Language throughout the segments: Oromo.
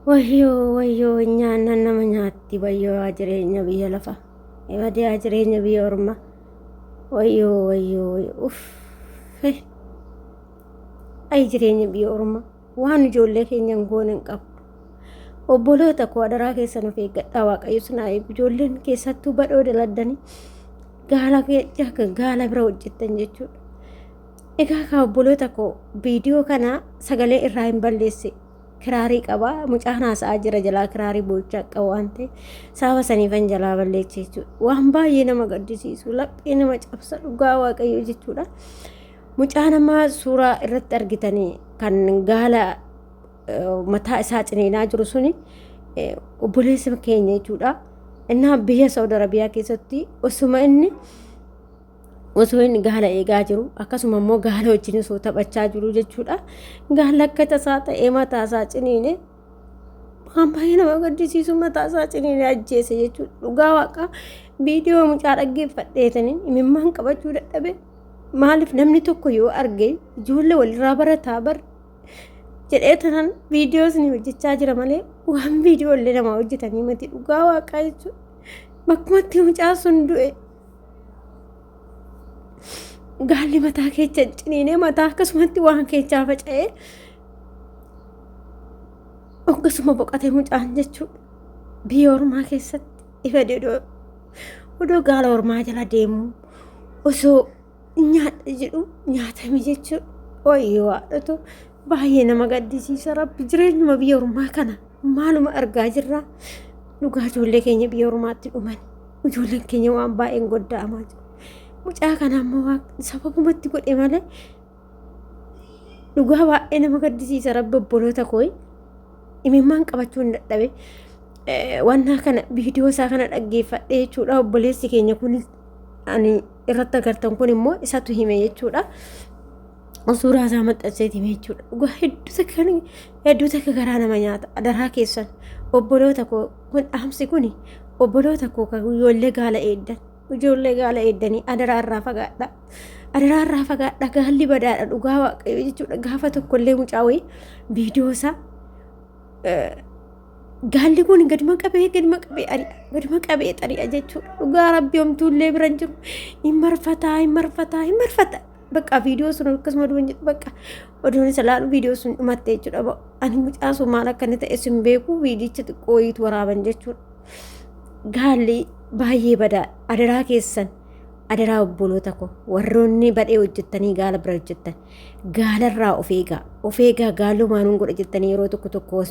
Wayyoo wayyoo nyaannan nama nyaatti wayyoo yaa jireenya biyya lafa ibadee yaa jireenya biyya orma wayyoo wayyoo wayyoo uffe ayi jireenya biyya orma waan ijoollee keenya hin goone hin qabdu obboloota koo adaraa keessan of eeggadhaa waaqayyo sinaa eegu ijoolleen keessattuu badhoo daladdanii gaala gaala bira hojjettan jechuudha Egaa kaa obboloota koo viidiyoo kana sagalee irraa hin balleessi. Kiraarii qaba mucaan haasa'aa jira jalaa kiraarii boo'ichaa qaba waan ta'e sababa saniifan jalaa balleecha jechuudha. Waan baay'ee nama gaddisiisu laphee nama cabsa dhugaa waaqayyoo jechuudha. Mucaa namaa suuraa irratti argitanii kan gaala mataa isaa ciniinaa jiru suni obboleessa keenya jechuudha. Innaa biyya Saawud Arabiyaa keessatti osuma inni osoo inni gaala eegaa jiru akkasuma immoo gaala wajjin osoo taphachaa jiru jechuudha. Gaala akka tasaa ta'ee mataa isaa ciniine waan baay'ee nama gaddisiisu mataa isaa ciniine ajjeese jechuudha. Dhugaa waaqa viidiyoo mucaa dhaggeeffadheetanii imimmaan qabachuu dadhabe maaliif namni tokko yoo arge ijoollee walirraa barataa bar jedhee tanan viidiyoo isin hojjechaa jira malee waan viidiyoo illee namaa hojjetanii miti dhugaa waaqaa jechuudha. Bakkumatti mucaa sun du'e. gaalli mataa keecha ciniinee mataa akkasumatti waan keechaa faca'ee akkasuma boqatee mucaan jechuudha biyya ormaa keessatti ifa dedoo odoo gaala ormaa jala deemu osoo nyaadha jedhu nyaatame jechuudha. Wayyoo haadhotu baay'ee nama gaddisiisa rabbi jireenyuma biyya ormaa kana maaluma argaa jirra. Dhugaa ijoollee keenya biyya ormaatti dhuman ijoolleen keenya waan baay'een godda'amaa jiru. Mucaa kana ammoo waan sababumatti godhe malee dhugaa baay'ee nama gaddisiisa rabbi obboloota kooyi. Imimmaan qabachuu hin dadhabe. Wannaa kana viidiyoo isaa kana dhaggeeffadhee jechuudha obboleessi keenya kunis ani irratti agartan kun immoo isatu hime jechuudha. Suuraa isaa maxxanseeti hime jechuudha. Dhugaa hedduu takka kan hedduu takka garaa nama nyaata. Adaraa keessan obboloota koo kun dhaamsi kun obboloota koo kan ijoollee gaala eeddan ijoollee gaala eeddanii adaraa irraa fagaadha. Adaraa irraa fagaadha gaalli badaadha dhugaa waaqayyo jechuudha. Gaafa tokkollee mucaa wayii viidiyoo isaa Gaalli kun gaduma qabee gaduma qabee ari'a gaduma qabee xari'a jechuudha. Dhugaa rabbi homtuullee bira hin jiru. Hin marfataa hin marfataa hin marfataa. Bakka viidiyoo sun akkasuma duran jedhu bakka oduun isa laalu viidiyoo sun dhumatte jechuudha. Ba- Ani mucaa sun maal akka inni ta'e sin beeku viidiyicha xiqqoo wayiitu waraaban jechuudha. Gaalli baay'ee badaa adaraa keessan adaraa obboloota koo warroonni badhee hojjettanii gaala bira hojjettan Gaalarraa of eegaa. Of eegaa gaaloo maanuun godha jettanii yeroo tokko tokko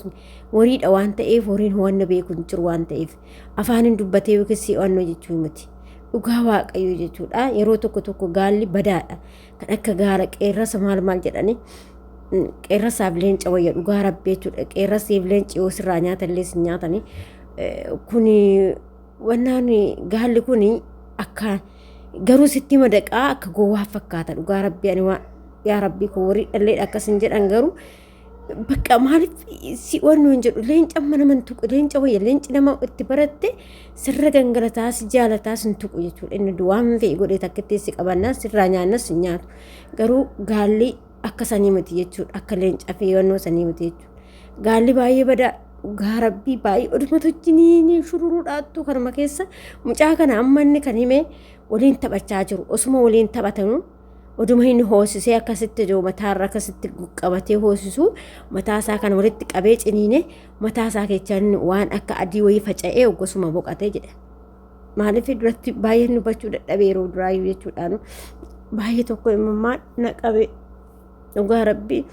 horiidha waan ta'eef horiin ho'anna beeku hin jiru waan ta'eef afaaniin dubbatee yookiis ho'annoo jechuu miti. Dhugaa waaqayyoo jechuudha. Yeroo tokko tokko gaalli badaadha. Kan akka gaala qeerrasa maal maal jedhanii qeerrasaaf leenca wayya dhugaa rabbi jechuudha. Qeerrasiif leenci yoo sirraa nyaatallee sin nyaatanii kun Wannaan gaalli kun akka garuu sitti madaqaa akka gowwaa fakkaata dhugaa rabbi ani waan yaa rabbi koo warri dhalleedha akkas hin jedhan garuu bakka maaliif si wannu hin jedhu leenca amma nama hin tuqu leenca wayya leenci nama itti baratte sirra gangalataa si jaalataa si hin tuqu jechuudha inni duwwaan fe'e godhee takkitti si qabannaa sirraa nyaannas hin nyaatu garuu gaalli akka sanii miti jechuudha akka leencaa fi yoonnoo sanii miti jechuudha gaalli baay'ee badaa dhugaa rabbii baay'ee odumatu wajjiniin shururuudhaattu kanuma keessa mucaa kana amma inni kan himee waliin taphachaa jiru osuma waliin taphatanu oduma inni hoosisee akkasitti jiru mataarra akkasitti qabatee hoosisu mataasaa kan walitti qabee ciniine mataasaa keechaan waan akka adii wayii faca'ee oggosuma boqatee jedha. Maaliif duratti baay'een dubbachuu dadhabe yeroo duraayyuu jechuudhaan baay'ee tokko imimmaan na qabe dhugaa rabbii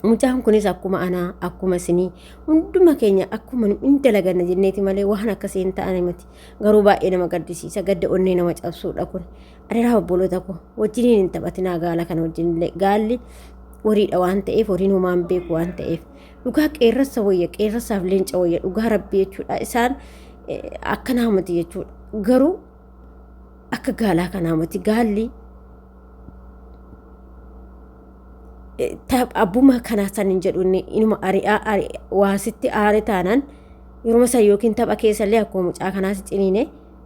mucaan kunis akkuma anaa akkuma isinii hunduma keenya akkuma hin dalaganna jenneeti malee waan akkasii hin ta'ane miti garuu baay'ee nama gaddisiisa gadda onnee nama cabsuudha kun adeeraa obboloota koo wajjiniin hin taphatinaa gaala kana wajjinillee gaalli horiidha waan ta'eef horiin homaan beeku waan ta'eef Dhugaa qeerrassa wayya qeerrasaaf leenca wayya dhugaa rabbi jechuudha isaan akka naamati jechuudha garuu akka gaalaa kan naamati gaalli abbuma kanaa san hin jedhu inni inuma ari'aa waasitti aare taanaan yeruma san yookiin tapha keessallee akkuma mucaa kanaas ciniine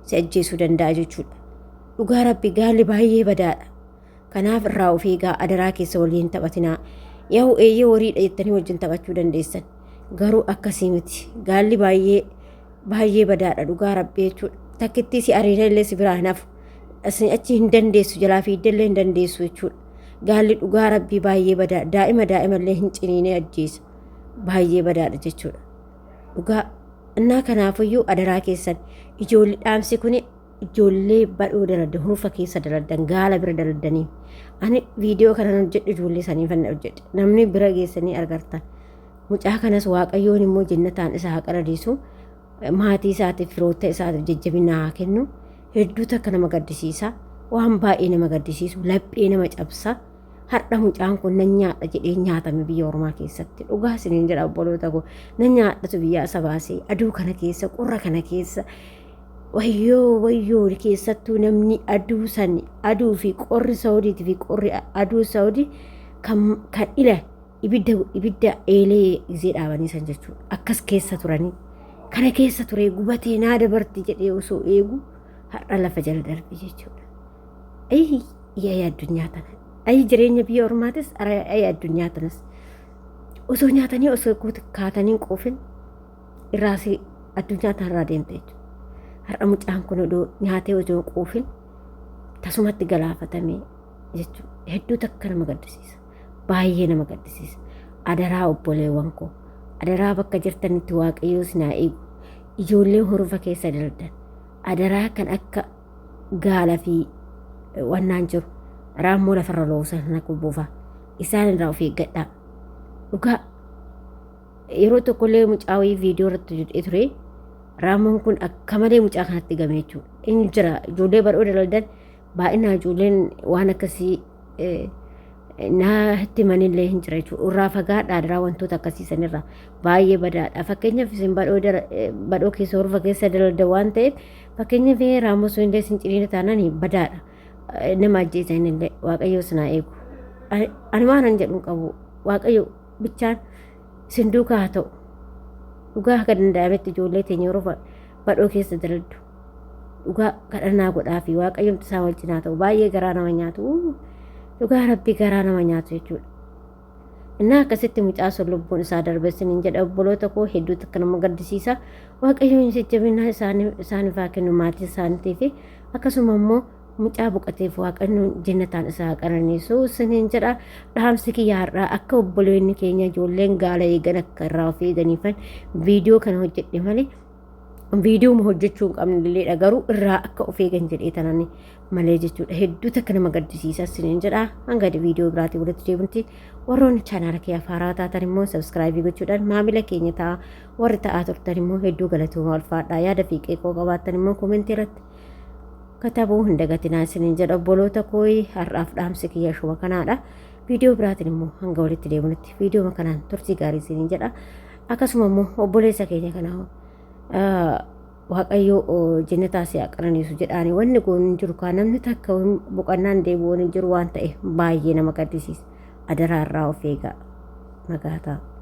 si ajjeesuu danda'a jechuudha. Dhugaa rabbi gaalli baay'ee badaadha. Kanaaf irraa of eegaa adaraa keessa waliin taphatinaa. Yahu eeyyee wariidha jettanii wajjin taphachuu dandeessan. Garuu akkasii miti. Gaalli baay'ee baay'ee badaadha dhugaa rabbi jechuudha. Takkittii si ariina illee si biraa hin hafu. Isin achi hin dandeessu jalaa fiigdee illee hin dandeessu jechuudha. Gaalli dhugaa rabbii baay'ee badaa daa'ima daa'ima illee hin ciniinee ajjeesa. Baay'ee badaadha jechuudha. Dhugaa innaa kanaafuyyuu adaraa keessan ijoolli dhaamsi kuni ijoollee badhoo daladda hurufa keessa daladdan gaala bira daladdanii ani viidiyoo kanan hojjedhu ijoollee sanii fanna hojjedhe namni bira geessanii argartan mucaa kanas waaqayyoon immoo jennataan isa haa qananiisu maatii isaatiif firoota isaatiif jajjabina haa kennu hedduu takka nama gaddisiisa waan baay'ee nama gaddisiisu laphee nama cabsa har'a mucaan kun nan nyaadha jedhee nyaatame biyya ormaa keessatti dhugaa isiniin jedha obboloota koo nan nyaadhatu biyyaa isa baasee aduu kana keessa qorra kana keessa Wayyoo wayyoo keessattuu namni aduu san aduu fi qorri saawudiiti fi qorri aduu saawudi kan kan ila ibidda ibidda eelee izee dhaabanii san jechuudha akkas keessa turanii kana keessa turee gubatee naa dabarti jedhee osoo eegu har'a lafa jala darbe jechuudha. Ayi yaa'ii addunyaa tana ayi jireenya biyya ormaatis ayi addunyaa tanas osoo nyaatanii osoo kaatanii hin quufin irraa si addunyaa tanarraa deemte jechuudha. Har'a mucaan kun odoo nyaatee odoo quufin tasumatti galaafatamee jechuudha. Hedduu takka nama gaddisiisa. Baay'ee nama gaddisiisa. Adaraa obboleewwan koo. Adaraa bakka jirtanitti waaqayyoo isin haa eegu. Ijoollee horfa keessa daldan. Adaraa kan akka gaala fi wannaan jiru. Raammoo lafarra loosan sana kubuufa. Isaan irraa of eeggadhaa. Dhugaa Yeroo tokkollee mucaa wayii viidiyoo irratti hojjetee ture. Raamoon kun akka malee mucaa kanatti game jechuudha. Inni jira ijoollee bal'oo dalaldan baay'inaan ijoolleen waan akkasii eh, naa itti manillee hin jira jechuudha. Irraa fagaadhaa irraa wantoota akkasii sanirraa baay'ee badaadha. Fakkeenyaaf isin badhoo dara- eh, badhoo keessa horfa keessa dalalda waan ta'eef fakkeenyaaf eh, raamoo sun illee isin ciniina taanaan badaadha. Eh, Nama ajjeesan illee waaqayyoo sinaa eegu. Ani- Ani waan hin jedhu hin qabu waaqayyo bichaan isin duukaa haa ta'u. Dhugaa akka danda'ametti ijoollee teenya yeroo ba- badhoo keessa daladdu. Dhugaa kadhannaa godhaa fi waaqayyomti isaa wal cinaa ta'u baay'ee garaa nama nyaatu. Uu, Dhugaa rabbi garaa nama nyaatu jechuudha. Innaa akkasitti mucaa sun lubbuun isaa darbe isiniin jedha obboloota koo hedduutu akka nama gaddisiisa. Waaqayyoon jajjabinaa isaaniif isaaniif haa kennu maatii isaaniitii fi akkasuma immoo Mucaa boqateef Waaqannoon jennataan isaa haa qananiisu isiniin jedha. Dhaamsi kiyya har'aa akka obboleonni keenya ijoolleen gaala eegan akka irraa of eeganiifan viidiyoo kana hojjedhe malee viidiyooma hojjechuu hin qabnelleedha garuu irraa akka of eegan jedhee tanani malee jechuudha hedduu takka nama gaddisiisa isiniin jedha hanga viidiyoo biraatii walitti deebinutti warroonni chaanaala kee afaaraa taatan immoo sabskraayibii gochuudhaan maamila keenya ta'a warri ta'aa turtan immoo hedduu galatoomaa ulfaadhaa yaada fi qeeqoo qabaattan immoo koomentii irratti katabuu hin dagatinaa isiniin jedha obboloota kooyi har'aaf dhaamsi kiyya shuma kanaadha viidiyoo biraatiin immoo hanga walitti deemunutti viidiyoo kanaan turtii gaarii isiniin jedha akkasuma immoo obboleessa keenya kana waaqayyoo jennataa si'a qananiisu jedhaani wanni goon hin jiru kaa namni takka boqannaan deebi'uu hin jiru waan ta'e baay'ee nama gaddisiisa adaraa irraa of eegaa nagaataa.